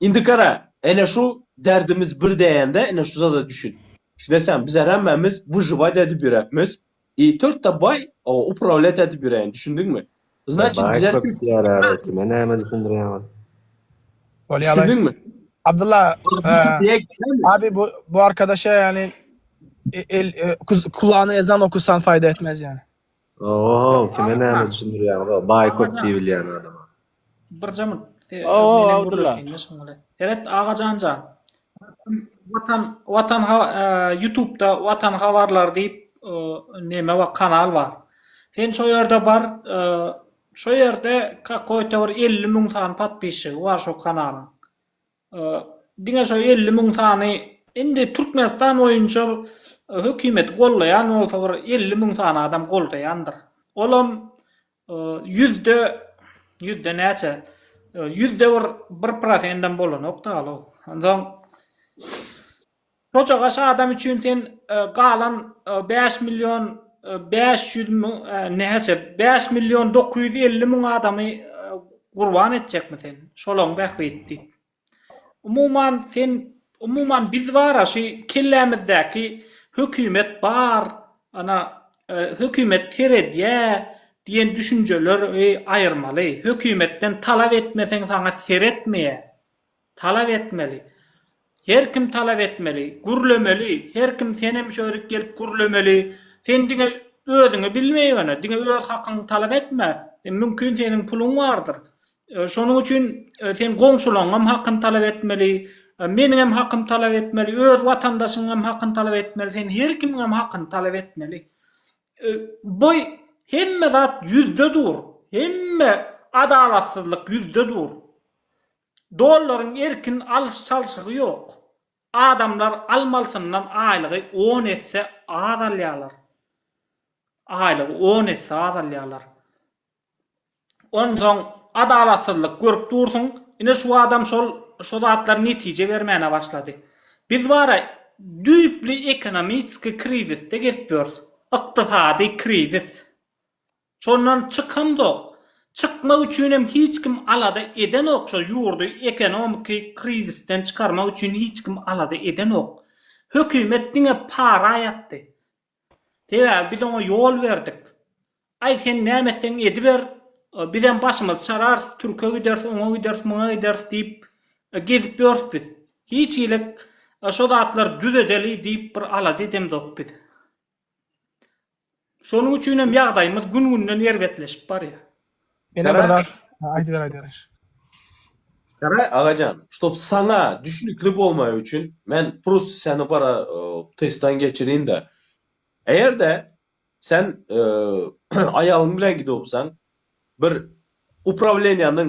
Indi gara, ene şu derdimiz bir däýende, ene şu zada düşün. Şunesäň, biz her hemmämiz wyžywać edip ýöräpmis. I törtde baý uprawlýat edip ýöräýen, düşündiňmi? Znaçit, biz her kim Baý-köp kime näme düşündirýäň ol? Düşündiňmi? Abdylla, abi bu bu arkadaşa ýaly el kulagna ezan okusan faýda etmez ýaly. Ohow, kime näme düşündirýäňiz-ow, baýkot diýip bilýän adama. Birje mut. Ohow, Abdylla. Seret Agajanja. Watan, watan ha, ýutubda watan habarlary diýip neme bar, kanal bar. Sen şo ýerde bar, şo ýerde kakoýta bir elli müň sany patpisçigi bar şo kanalyň. Diňe şo elli müň sany indi Türkmenistan boýunça hökümeti gollaýan bolsa bir elli müň sany adam goldaýandyr. Olam ýüzde ýüzde näçe ýüzde bir bir prosendem bolanok dagly o. Onsoň Çoçagaş adam üçin sen galan bäş million bäş ýüz müň näçe bäş million dokuz ýüz elli müň adamy gurban etjekmi sen şolaň bähbit diýip. Umuman sen umuman biz bara şu kellämizdäki hökümet bar ana hökümet seredýä diýen düşünjeleri aýyrmaly. Hökümetden talap etmeseň saňa seretmeýä. Talap etmeli. Her kim talap etmeli. Gürlemeli. Her kim senem şu ýerik gelip gürlemeli. Sen diňe özüňi bilme ýöne. Diňe öz hakyňy talap etme. Mümkin seniň puluň bardyr. Şonuň üçin sen goňşulaňňam hakyny talap etmeli. Meniňem hakymy talap etmeli. Öz watandaşyňňam hakyny talap etmeli. Sen her kimiňem hakyny talap etmeli. Boý hemme zat ýüzde dur. Hemme adalatsyzlyk ýüzde dur. Dollaryň erkin alyş-çalşygy ýok. Adamlar almalysyndan aýlygy on esse az alýarlar. Aýlygy on esse az alýarlar. Onsoň adalatsyzlyk görüp dursuň. Ine şu adam şol şo zatlar netije bermäne başlady. Biz bara düýpli ekonomiski krizisde gezip ýörüs. Ykdysady krizis. Şondan çykamzok. Çykmak üçin hem hiç kim alada edenok, şol ýurdy ekonomiki krizisden çykarmak üçin hiç kim alada edenok. Hökümet diňe para aýatdy. Sebäbi biz oňa ýol berdik. Aý sen näme etseň ediber, biz hem başymyzy çararys, türke gideris, oňa gideris, muňa gideris diýip gezip ýörüs biz. Hiç hili şo zatlary düzedeli diýip bir alada edemzok biz. Şonuň üçin hem ýagdaýymyz gün-günden erbetleşip barýar. Ene bir zat aýdyber aýdyber. Garaý agajan, ştob saňa düşnükli bolmagy üçin men prosto seni bir testden geçirin-de. Eger-de sen aýalyň bilen gidopsaň, bir uprawleniýäniň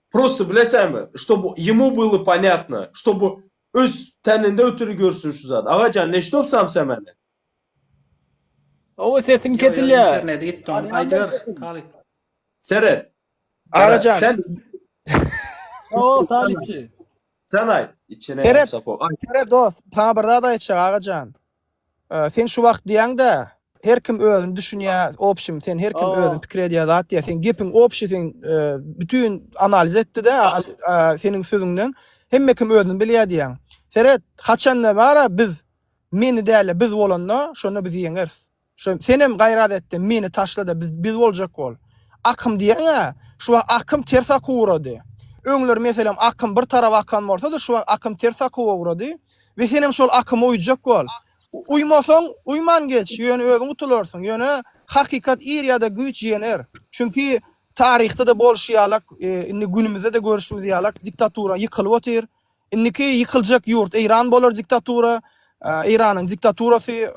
Prosto bilesäňmi şto bu ýemu byly ponýatno şto bu öz täninde ötüri görsün şu zady agajan ne ştop sam sämäne. Hawa sesiň kesilýär. Interneti gitdi oň aýdyber talyp. Seret. Agajan. Sen. Hawa talypçy. Sen aýt içine. Seret. Seret dos saňa bir zat aýtjak agajan. Sen şu wagt diýäňdä her kim özüni düşünýä opşim sen her kim özüni pikir edýä zat diýä sen gepiň opşi sen bütin analiz etdide seniň sözüňden hemme kim özüni bilýä diýäň seret haçanda bara biz meni däle biz bolanda şonda biz ýeňeris Şo senem gaýrat etde meni taşlada biz biz boljak bol. Akym diýeňä şu wagt akym ters akuw urady. Öňler meselem akym bir tarap akan bolsady şu wagt akym ters akuwa urady we senem şol akyma uýjak bol. Uýmasaň uýman geç ýöne özüň utularsyň ýöne hakykat ir ýada güýç ýener. Çünki taryhda-da bolşy ýalak indi günümizde-de görşümiz ýalak diktatura ýykylyp otyr. Indiki ýykyljak ýurt Eýran bolar diktatura, Eýranyň diktaturasy,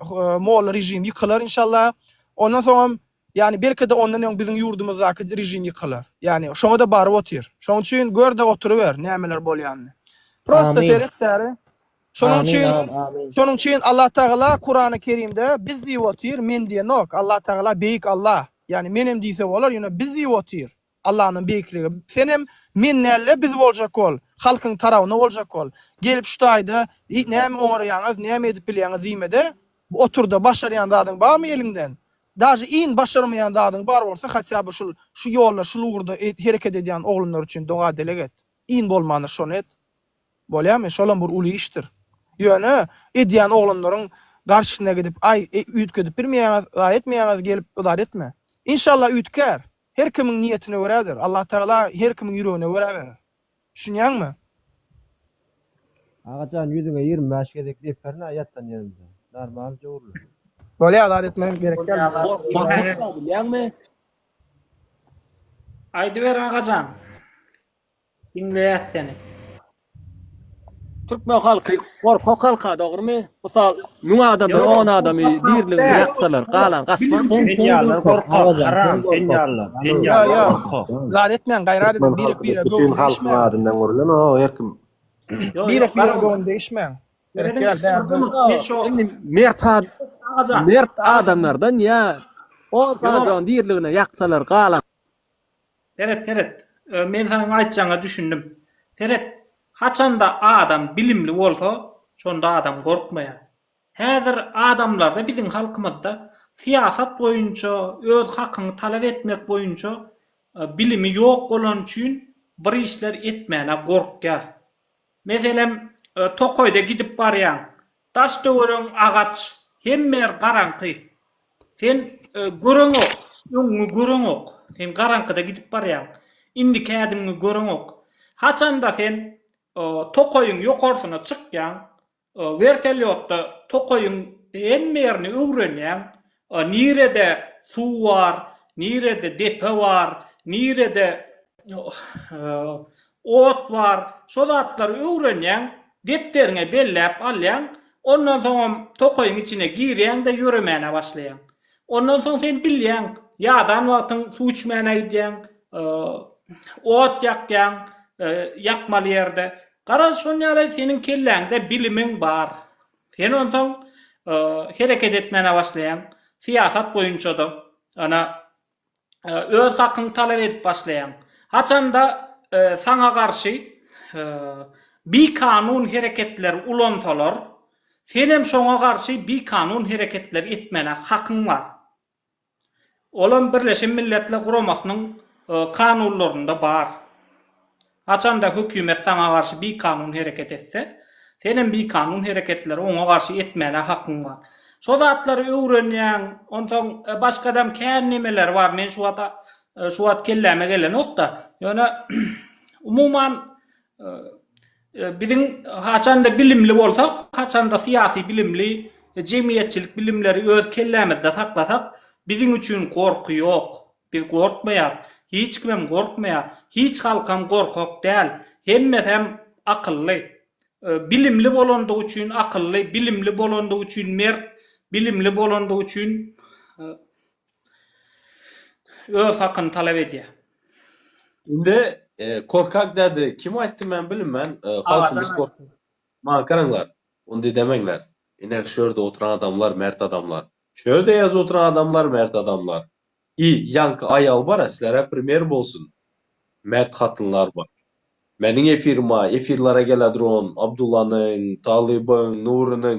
molla režim ýykylar inşallah. Ondan soňam, ýagny belki-de ondan öň biziň ýurdumyzdaky režim ýykylar. Ýagny şoňa-da baryp otyr. Şoň üçin gör-de oturyber nämeler bolýanyny. Prosta seret bäri. Şonuň üçin, şonuň üçin Allah Tagala Kurany Kerimde biz diýip otyr, men diýenok. Allah Tagala beýik Allah. Ýagny menem diýse bolar, ýöne biz diýip otyr. Allanyň beýikligi. Senem men nälle biz boljak bol, halkyň tarawyna boljak bol. Gelip şu taýda eý näme oňarýaňyz, näme edip bilýäňiz diýmede, oturda başarýan zadyň barmy eliňden? Daže iň başarmaýan zadyň bar bolsa hatýa bir şul şu ýolda şul ugurda hereket edýän oglanlar üçin doga dileg et. Iň bolmanda şony et. Bolýamy? Şolam bir uly işdir. Ýöne edýän oglanlaryň garşysyna gidip aý üýtgedip bilmeýäňiz, zaý etmeýäňiz gelip yzat etme. Inşallah üýtgär. Her kimiň niýetine görädir. Allatagala her kimiň ýüregine görä berer. Düşünýäňmi? Agajan ýüzüňe ýigrimi bäş gezek dep berna ýatan ýerinde. Normal jowrly. Bolýar zat etmegem gerek däl bu zat. Gorkutma bilýäňmi? Aýdyber agajan. Diňleýäs seni. Türkmen halky gorkak halka dogrymy? Mysal müň adamdan on adamy diriligine ýaksalar galan gaçmaz. Sen ýalylar gorkak haram sen ýalylar sen ýalylar gorkak. Zat etmäň gaýrat ediň birek birege göwün degişmäň. Adyndan gürlen o her kim. Birek birege göwün degişmäň. Gerek däl däl. Indi mert mert adamlardan ýa on sanadan diriligine ýaksalar galan. Seret seret. Men seniň aýtjaňa düşündim. Seret, haçanda adam bilimli bolsa, şonda adam gorkmaýar. Häzir adamlarda biziň halkymyzda syýasat boýunça, öz hakyňy talap etmek boýunça bilimi ýok bolany üçin bir işler etmäne gorkýar. Meselem, tokaýda gidip barýaň, Daş-töwereg agaç, hemme ýer garaňky. Sen göreňok, öňüňi göreňok. Sen garaňkyda gidip barýaň. Indiki ädimiňi göreňok. Haçanda sen tokaýyň ýokarsyna çykýaň, wertolýotda tokaýyň hemme ýerini öwrenýäň, A nirede suw bar, nirede depe bar, nirede ot bar, şo zatlary öwrenýäň, depderiňe belläp alýaň, ondan soňam tokaýyň içine girýäň-de ýöremäne başlaýaň. Ondan soň sen bilýäň, ýadan wagtyň suw içmäne gidýäň, ot ýakýaň, ýakmaly ýerde. Garaz, şonýaly seniň kelläňde bilimiň bar. Sen onsoň hereket etmäne başlaýaň. Syýasat boýunça-da, ana, öz hakyňy talap edip başlaýaň. Haçanda saňa garşy bikanun hereketleri ulansalar, senem şoňa garşy bikanun hereketleri etmäne hakyň bar. Olam Birleşen Milletler Guramasynyň kanunlarynda bar. Haçanda hökümet saňa garşy bikanun hereket etse, senem bikanun hereketleri oňa garşy etmäne hakyň bar. Şo zatlary öwrenýäň, onsoň başgadam kän nemeler bar, men şu wata şu wagt kelläme gelenok-da. Ýöne umuman Biziň haçanda bilimli bolsak, haçanda syýasy bilimli, jemgyýetçilik bilimleri öz kellämizde saklasak, biziň üçin gorky ýok. Biz gorkmaýas. Hiç kimem gorkmaýar. Hiç halkam gorkak däl. Hemmesem akylly. Bilimli bolandygy üçin akylly, bilimli bolandygy üçin mert, bilimli bolandygy üçin. Öz hakyny talap edýär. Indi korkak dädi kim aýtdy men bilinmen halkymyz korkak maňa garaňlar ondy demeňler iner şu ýerde oturan adamlar mert adamlar şu ýerde ýazy oturan adamlar mert adamlar i ýaňky aýaly bara silerä primer bolsun mert hatynlar bar meniň efirima efirlara geläduran Abdullanyň Talybyň Nurynyň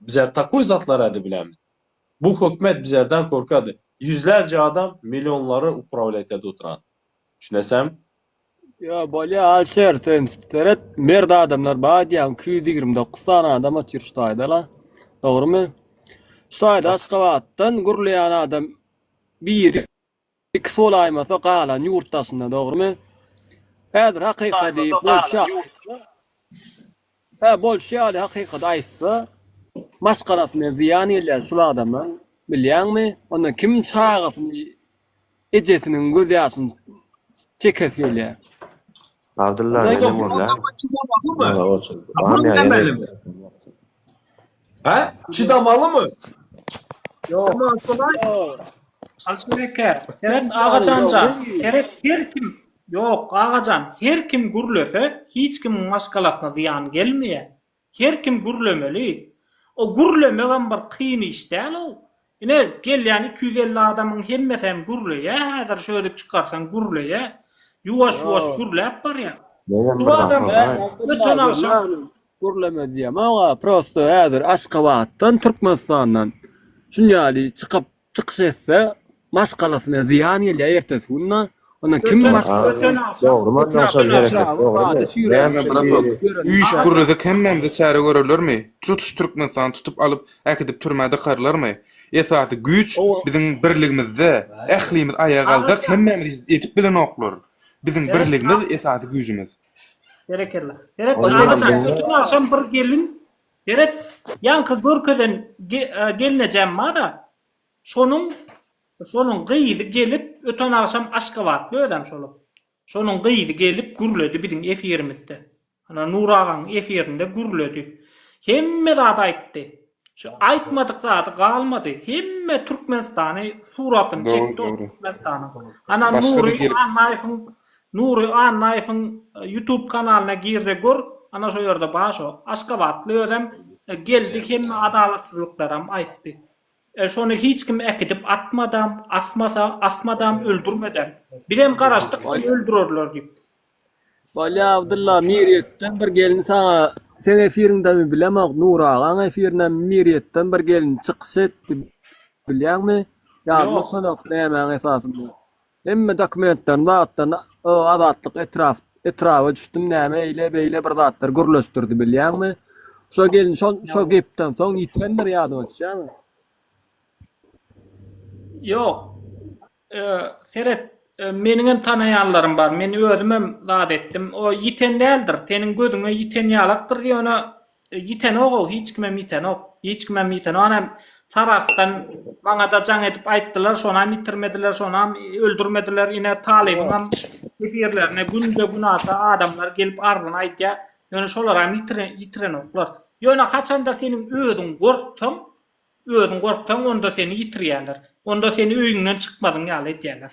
Bizler takoý zatlarady bilämiz. Bu hökmet bizlerden korkady. Ýüzlerce adam millionlary uprawlýatýady oturan. Düşünesem? Ýo bolýa Alişer sen seret merd adamlar bar diýýäň iki ýüz ýigrimi dokuz sany adam otyr şu taýdala dogrymy? Şu taýda Aşgabatdan gürleýän adam biri Iki solaýmasa galan ýurt daşynda dogrymy? Häzir hakyka diýip bolşa Hä bolşy ýaly hakykat aýtsa maşgalasyna zyýan gelýär şul adamlaň bilýäňmi onda kim çagasyny ejesiniň göz ýaşyny çekesi gelýär. Abdylla neneň bolýa? Nara goçum. Bam ýa ýene. Hä? Çydamalymy? Ýok. Alşereke, Seret Agajanja, Seret her kim, ýok, Agajan, her kim gürlese, hiç kimiň maşgalasyna zyýan gelmeýär. Her kim gürlemeli. O gürlemegem bir kyn iş däl-ow. Ine, gelýän iki ýüz elli adamyň hemmesi hem gürleýär häzir, şöýdüp çykarsaň gürleýär. Ýuwaş-ýuwaş gürläp barýar. Bu adam öten agşam. Gürleme diýemog-a, prosto häzir Aşgabatdan, Türkmenistandan şuny ýaly çykyp, çykyş etse, maşgalasyna zyýan gelýär ertesi günde. Ondan kim Üýş gürlesek hemmämizi çäre görerlermi? Tutuş Türkmenistany tutup alyp äkidip türmä dykarlarmy? Esasy güýç biziň birligimizde. Ählimiz aýaga galsak hemmämizi edip bilenoklar. Biziň birligimiz esasy güýjümiz. Berekella. Beret agajan öten agşam bir gelin Beret ýaňky görkezen gelnejem bara şonuň Şonuň gyzy gelip, öten agşam Aşgabatly özem şol. Şonuň gyzy gelip gürledi biziň efirimizde. Ana Nur agaň efirinde gürledi. Hemme zady aýtdy. Şu aýtmadyk zady galmady. Hemme Türkmenistany suratyny çekdi ol Türkmenistanyň. Ana Nury Annaýewiň Nury Annaýewiň YouTube kanalyna girde gör, ana şo ýerde bar şo. Aşgabatly özem geldi hemme adalatsyzlyklaram aýtdy. E şony hiç kim äkidip atmadam, asmasa, asmadam, öldürmedem. Bizem garaşdyk şony öldürerler diýip. Bolýa Abdylla Mirýetden bir gelin saňa seň efiriňdemi bilemok Nury agaň efirindemi Mirýetden bir gelin çykyş etdi bilýäňmi? Ýadyma düşenok nämäň esasynda. Hemme dokumentlerini, zatlaryny o Azatlyk etrap, etraba düşdüm, näme eýle, beýle bir zatlar gürleşdirdi, bilýäňmi? Şo gelin şo, şo gepden soň ýitendir, ýadyňa düşýärmi? Ýok. E, seret, e, meniň hem tanaýanlarym bar, men özüm hem zat etdim. O ýiten däldir, seniň gözüňe ýiten ýalakdyr, ýöne Ýitenogou hiç kimem ýitenok. Hiç kimem ýitenok anam Sarahsdan maňada jaň edip aýtdylar şonam ýitirmediler şonam öldürmediler ine talybyňam nebirlerine günde günasa adamlar gelip arzyny aýdýa ýöne şolaram ýitirenoklar ýöne haçanda seniň özüň gorksaň özüň gorksaň onda seni ýitirýäler onda seni öýüňden çykmadyň ýaly edýäler.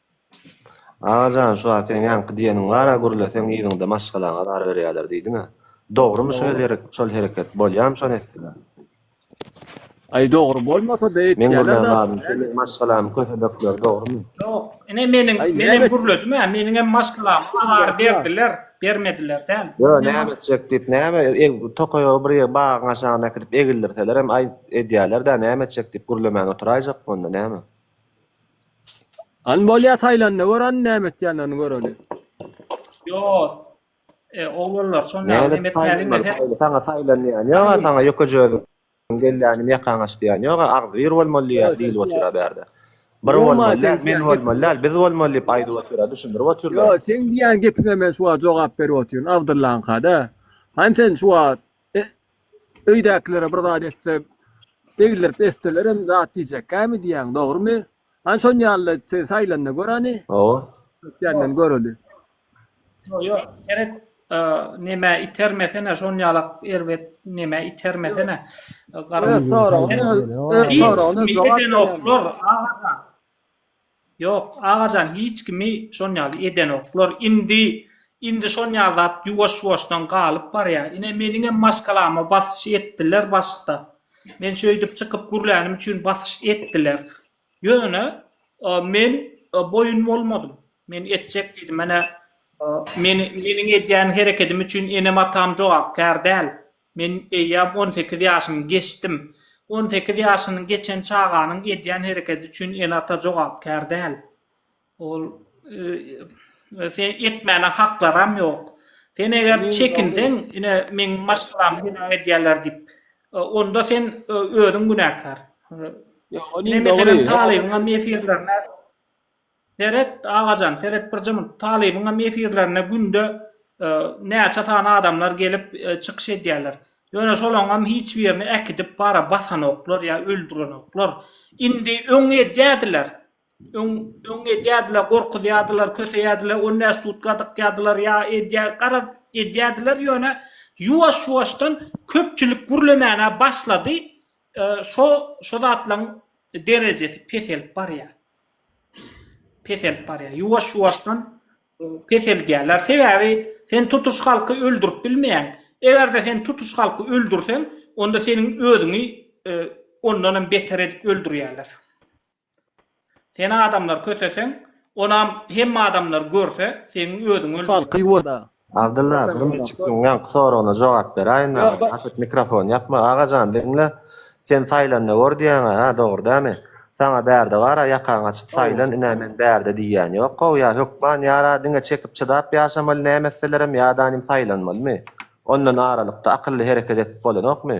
Aga jan şu a seň ýaňky diýeniň bar a gürleseň yzyňda maşgalaňa zar berýäler diýdiňä dogrymy şo ýerik şol hereket bolýamy şony etdiler. Aý dogry bolmasa da etýäler da. Men gürlän zadym şu meň maşgalamy kösebekler dogrymy. Ýok ine meniň menem gürledim a meniňem maşgalamy azar berdiler bermediler däl. Ýo näme etjek diýip näme tokaýogy bir ýer bagyň aşagyna äkidip egildirselerem aý edýäler da näme etjek diýip gürlemän oturaýjakmy onda näme. An bolýa saýlanda gör an näme etýänlerini göreli. Ýos. E, oglanlar, şon näme näme etmäliň dese. Saňa saýlanýan ýok, saňa ýoka jöz. Gelýänim ýakaň aç diýýän ýok, agzybir bolmaly diýýär, diýilip otyra bärde. Bir bolmaly, men bolmaly, biz bolmaly diýip aýdyp otyra, düşündirip otyrlar. Ýok, seň diýýän gepiňe men şu wagt jogap berip otyryn, Abdyllaňka-da. Hany sen şu wagt Öýdäkilere bir zat etse, egildirip etselerem zat diýjekkämi diýýäň, dogrumy? Hany şon ýaly sen saýlanyna göreni? Hawa. Ötýänden göreli. Ýok, ýok, seret, nemä itermesene, şon ýalak erbet nemä itermesene. Öz soragyny öz soragyna jogap berenok. Hiç kim edenoklar, agajan. Ýok, agajan hiç kimi şonýaly edenoklar. Indi, indi şonýaly zat ýuwaş-ýuwaşdan galyp barýar. Ine, meniňem maşgalama basyş etdiler başda. Men şeýdip çykyp gürlänim üçin basyş etdiler. Ýöne, men boýun bolmadym. Men etjek diýdim. Menä, meniň edýän herekedim üçin enem-atam jogapkär däl. Men eýýäm on sekiz ýaşymy geçdim. On sekiz ýaşyny geçen çaganyň edýän hereketi üçin ene-ata jogapkär däl. Ol etmäne haklaram ýok. Sen eger çekinseň, ine, meň maşgalamy günä edýärler diýip, onda sen özüň günäkär. Ine, meselem, Talybyňam efirlerine. Seret Agajan seret bir jymy talybyňam efirlerine günde näçe sany adamlar gelip çykyş edýärler. Ýöne şolaňam hiç birini äkidip bara basanoklar ýa öldürenoklar. Indi öň edýärdiler. Öň öň edýärdiler gorkuzýardylar köseýärdiler on bäş sutka dykýardylar ýa edýär garaz edýärdiler ýöne ýuwaş ýuwaşdan köpçülik gürlemänä başlady Şo şo zatlaň derejesi peselip barýar. Peselip barýar. Ýuwaş ýuwaşdan peseldýärler. Sebäbi sen tutuş halky öldürip bilmeýäň. Egerde sen tutuş halky öldürseň onda seniň özüňi ondanam beter edip öldürýärler. Seni adamlar köseseň, onam hemme adamlar görse, seň özüň öldüň. Halky oda. Abdylla aga Gymyçykyň ýaňky soragyna jogap beraýyn aga. Gaty mikrofony ýakma. Agajan diňle. Sen saýlanda gör diýýäňä hä dogry dämi? Saňa bärde bara ýakaňy açyp saýlan ine men bärde diýýän ýok how ýa hökman ýara diňe çekip çydap ýaşamaly näme etselerem ýadanim saýlanmalymy? Ondan aralykda akylly hereket edip bolanokmy?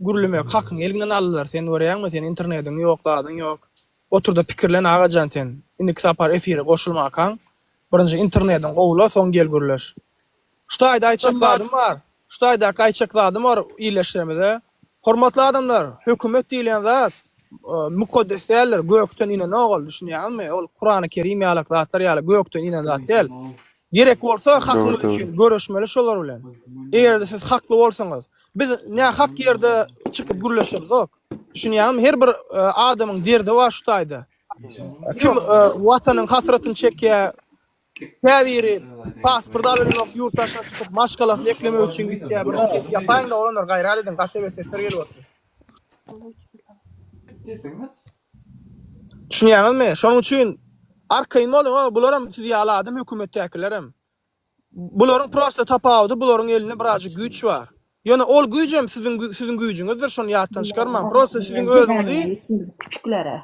Gürlemek hakyň eliňden alylar sen görýäňmi sen internediň ýok zadyň ýok oturda pikirlen agajan sen indiki sapar efire goşulmakaň birinji internediň gowula soň gel gürleş şu taýda aýtjak zadym bar şu taýdaky aýtjak zadym bar illeşlerimize hormatly adamlar hökümet diýilýän zat mukaddes däldir gökden inen ogul düşünýäňizmi ol kurany kerim ýalak zatlar ýaly gökden inen zat däl Gerek bolsa hakyňyz üçin göreşmeli şolar bilen. Eger-de siz hakly bolsaňyz. Biz nähak ýerde çykyp gürleşemzok. Düşünýäňizmi? Her bir adamyň derdi bar şu taýda. Kim watanyň hasratyny çekýär. Käbiri pasport alynok, ýurt daşyna çykyp maşgalasyny eklemek üçin gitýär. Bir ses ýapaýyň-da oglanlar, gaýrat ediň, gaty bir sesler gelip otyr. Düşünýäňizmi? Şonuň üçin arkaýyn boluň a bularam siz ýaly adam hökümetdäkilerem. Bularyň prosta tapawudy bularyň elinde birazjyk güýç bar. Ýöne ol güýjem siziň siziň güýjüňizdir şony ýatdan çykarmaň. Prosta siziň özüňizi Küçüklere.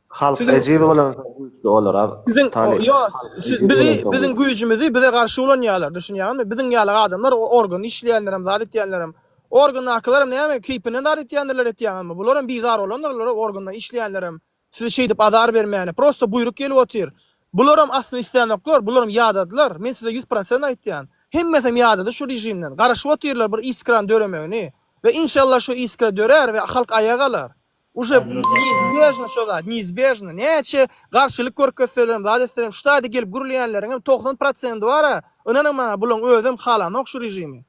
Halk ejiz bolansoň güýçli bolar a Siziň Tale. ýo siz bizi biziň güýjümizi bize garşy ulanýarlar. Düşünýäňizmi? Biziň ýaly adamlar organ işleýänlerem zat etýänlerem Organdakylaram näme, keýpinden zar etýändirler etýäňizmi? Bularam bizar bolandyrlar, organda işleýänlerem, sizi şeýdip azar bermäne. Prosta buýruk gelip otyr. Bularam aslynda islänoklar, bularam ýadadylar, men size ýüz prosent aýtýan. Hemmesem ýadady şu režimden, garaşyp otyrlar bir iskrany döremegini. We inşallah şu iskra dörär we halk aýaga alar. Uje neizbejno şo zat, neizbejno. Näçe garşylyk görkezselerem, zat etselerem, şu taýda gelip gürleýänleriňem togsan prosenti bar-a, ynanyň maňa, bulaň özem halanok şu režimi.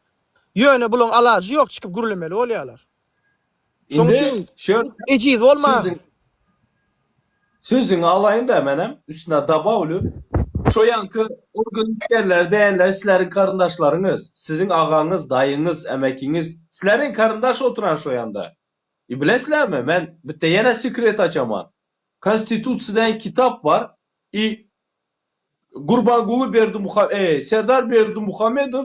Ýöne bulaň alajy ýok çykyp gürlemeli bolýalar. Şoň üçin ejiz bolmaň. Sözüňi alaýynda menem üstüne dabawly şo ýanky organ işgärleri däldir sizleriň karyndaşlaryňyz siziň agaňyz daýyňyz emekiňiz sizleriň karyndaş oturan şo ýanda e bilesizlermi men bitte ýene sekret açaman konstitutsiýa degen kitap bar e gurbanguly berdimuha e serdar berdimuhamedow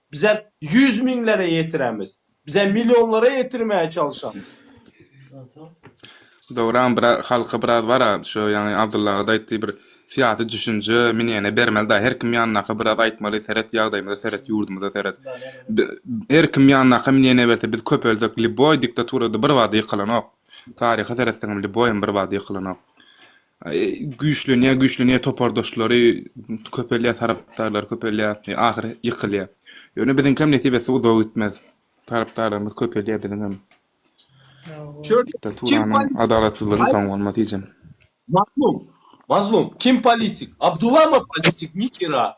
Bize ýüz miňlere ýetiremiz. Bize millionlara ýetirmäge çalyşamyz. Dogran bir halka biraz bara şu ýaňy Abdylla agada aýtdy bir syýasy düşünje minýene bermeli da her kim ýanyndaka biraz aýtmaly seret ýagdaýymyza seret ýurdumyza seret her kim ýanyndaka minýene berse biz köpelsek liboý diktaturada bir bada ýykylanok taryha seretseňem liboýam bir bada ýykylanok güýçlenýär güýçlenýär topardaşlary köpelýär tarapdarlar köpelýär ahyry ýykylýar ýöne biziňkem nesip etse uzaga gitmez tarapdarlarymyz köpelýär biziňem diktaturanyň adalatsyzlygyny soň bolmaz hijim mazlum mazlum kim politik abdulama politik nikira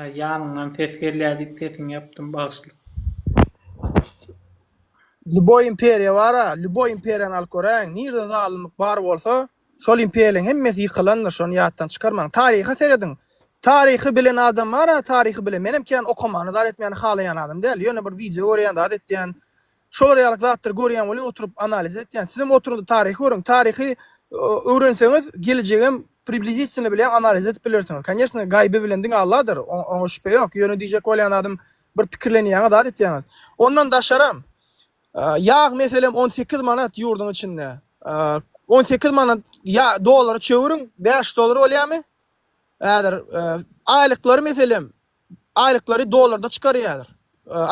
Ýanyňdan ses gelýär diýip sesiňi ýapdym bagyşla. Lýuboý imperiýa bar-a, lýuboý imperiýany alyp göräýiň, nirde zalymlyk bar bolsa, şol imperiýalaryň hemmesi ýykylandyr, şony ýatdan çykarmaň. Taryha serediň. Taryhy bilen adam bar-a, taryhy bilen. Menem kän okamany zat etmäni halaýan adam däl. Ýöne bir wideo görýän, zat etýän. Şolar ýaly zatlary görýän welin oturyp analiz etýän. Sizem oturyňda taryhy görüň. Taryhy öwrenseňiz gelejegem priblizitinno bile analiz edip bilersiňiz. Kanyesno gaýby bilen diňe Alladyr. Oňa şübhe ýok. Ýöne diýjek bolýan zadym bir pikirlenýäňiz zat etýäňiz. Ondan daşaram ýag meselem on sekiz manat ýurdyň içinde. On sekiz manat dolara çewüriň bäş dolar bolýamy? Häzir aýlyklary meselem Aýlyklary dollarda çykarýarlar.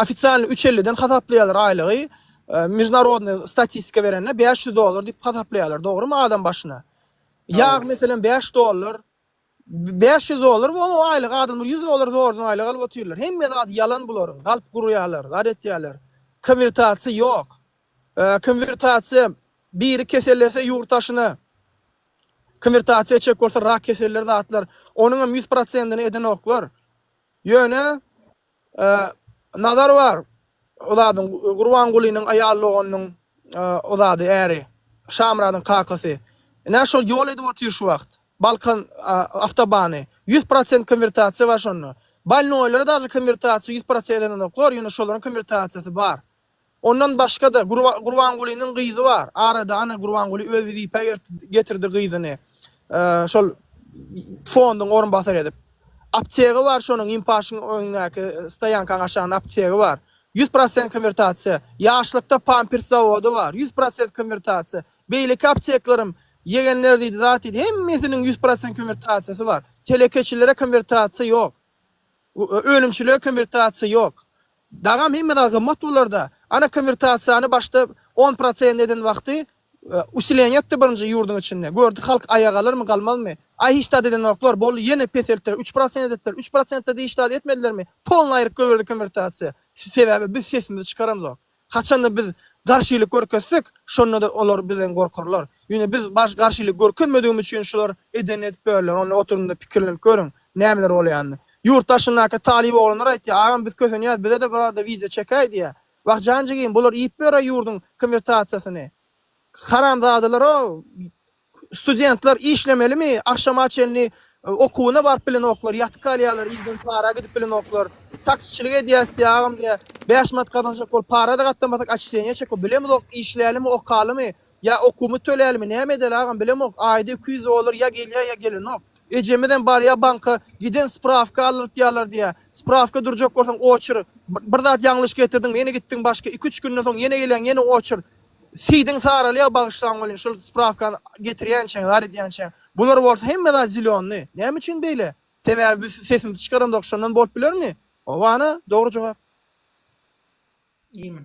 Ofisialny üç elliden hasaplaýarlar aýlygy. Mejnarodnyý statistika berende bäş ýüz dollar diýip hasaplaýarlar, dogrymy, adam başyna. Ýag meselem bäş dollar. Bäş ýüz dollar we o aýlygy adamlar ýüz dollar zordan aýlyk alyp otyrlar. Hemme zady ýalan bularyň. Galp gurýarlar, zat etýärler. Konwertasiýa ýok. Konwertasiýa biri kesellese ýurt daşyna Konwertasiýa çek bolsa rak keselleri zatlar onuň hem ýüz prosentini edenoklar ýöne Nazar bar o zadyň Gurbangulynyň aýal doganynyň o zady äri Şamyradyň kakasy ine şol ýol edip otyr şu wagt Balkan awtobany ýüz prosent konwertasiýa bar şonda balnoýlara daşy konwertasiýa ýüz prosent edenoklar ýöne şolaryň konwertasiýasy bar. Ondan başga-da, Gurbangulynyň gyzy bar. Arada ana Gurbanguly öz wezipä getirdi gyzyny. Şol fonduň orunbasary edip. Aptegi bar şonuň Imparşyň öňündäki stoýankaň aşagynda aptegi bar. Ýüz prosent konwertasiýa. Ýaşlykda pampers zawody bar. Ýüz prosent konwertasiýa. Beýleki apteklerim ýegenler diýdi, zat diýdi. Hemmesiniň ýüz prosent konwertasiýasy bar. Telekeçilere konwertasiýa ýok. Önümçilige konwertasiýa ýok. Dagam hemme zat gymmat bolarda. Ana konwertasiýany başda on prosent eden wagty usileniýa etdi birinji ýurduň içinde. Gördi halk aýa galarmy galmazmy. Aý hiç zat edenoklar boldy ýene peseltdiler üç prosent edipdir. Üç prosentde de hiç zat etmedilermi. Polny aýryp goýberdi konwertasiýa. Sebäbi biz sesimizi çykaramzok. Haçanda biz garşylyk görkezsek şonda da olar bizden gorkarlar. Ýöne biz garşylyk görkezmedigimiz üçin şular edenini edip börler onda oturyňda pikirlenip görüň. Nämeler bolýanyny. Ýurt daşyndaky talyp oglanlar aýtýar, Agam biz kösenýäs, bize-de bir arada wiza çekäý diýýär. Wah jan jigim, bular iýip ýör-ä ýurduň konwertasiýasyny. Haramzadalar-ow! Studentler işlemelimi, agşama çenli okuwyna baryp bilenoklar, ýatyp galýarlar, ilden para gidip bilenoklar. Taksiçilik edýäs diýýär, Agam diýýär, bäş manat gazanjak bolup para-da gatdamasak, oçistenýa çekip bilemizook, işlälimi, okalymy? Ýa okuwymy tölälimi näme edeli agam bilemok aýda iki ýüz dollar ýa gelýä ýa gelenok. Ejemizem barýa banka giden sprawka aldyrtýalar diýä sprawka durjak bolsaň oçr bir zat ýaňlyş getirdiň ýene gitdiň başga iki üç günden soň ýene gelýäň ýene oçr sidiň saralýa bagyşlaň welin şul sprawkany getirýänçäň zar edýänçäň bular bolsa hemme zat zilionny näme üçin beýle sebäbi biz sesimizi çykaramzok şondan bolup bilermi hobana dogry jogap. Iýmn.